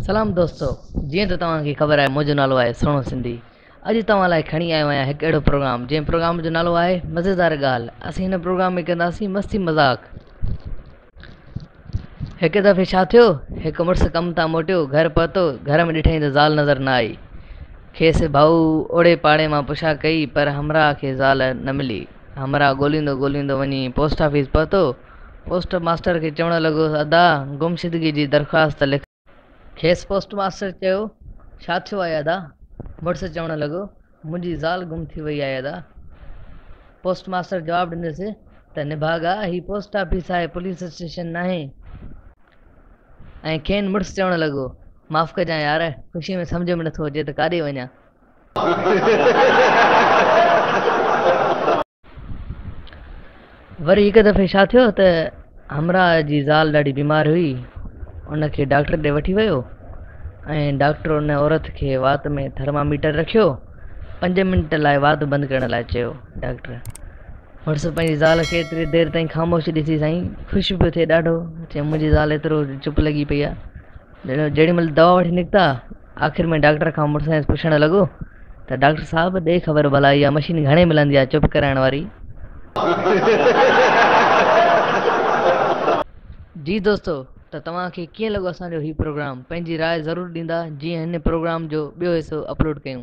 سلام دوستو جيئن ته توهان کي خبر آهي منهنجو نالو آهي سهڻو سنڌي اڄ توهان لاء کڻي آيو آهيان هڪ اهڙو پروگرام جنهن پروگرام جو نالو آهي مزيدار ڳالهه اسين هن پروگرام ۾ ڪنداسين مستي مذاق هڪ دفعي ڇا ٿيو، هڪ مڙس ڪم تان موٽيو، گهر پهتو، گهر ۾ ڏٺائين ته زال نظر نه آئي. کيس ڀائو اوڙي پاڙي مان پڇا ڪئي، پر همراهه کي زال نه ملي. همراهه ڳوليندو ڳوليندو وڃي پوسٽ آفيس پهتو. پوسٽ ماسٽر کي چوڻ لڳو، ادا، گمشدگي جي درخواست لکرايو. کيس پوسٽ ماستر چيو، ڇا ٿيو آهي ادا؟ مڙس چوڻ لڳو، منهنجي زال گم ٿي وئي آهي ادا. پوسٽ ماستر جواب ڏنس ته نڀاڳا هي پوسٽ آفيس آهي پوليس اسٽيشن ناهي. ۽ کين مڙس چوڻ لڳو، معاف ڪجان يار، خوشي ۾ سمجهه ۾ نٿو اچي ته ڪاڏي وڃان. وري هڪ دفعي ڇا ٿيو ته همراهه جي زال ڏاڍي بيمار هئي ان کي ڊاڪٽر ڏي وٺي ويو ۽ ڊاڪٽر ان عورت کي وات ۾ ٿرماميٽر رکيو پنج منٽ لاء وات بند ڪرڻ لاء چيو ڊاڪٽر مڙس پنهنجي زال کي ايتري دير تائين خاموش ڏسي سائين خوش پيو ٿئي ڏاڍو چي منهنجي زال ايترو چپ لڳي پئي آهي جيڏي مھل دوا وٺي نڪتا، آخر ۾ ڊاڪٽر کان مڙسائينس پڇڻ لڳو ته ڊاڪٽر صاحب ڏي خبر ڀلا اھا مشين گھڻي ملندي آ چپ ڪرائڻ واري؟ جي دوستو ته توھان کي ڪيئن لڳو اسان جو ھي پروگرام پنھنجي راء ضرور ڏيندا جيئن ھن پروگرام جو ٻيو حصو اپلوڊ ڪيون.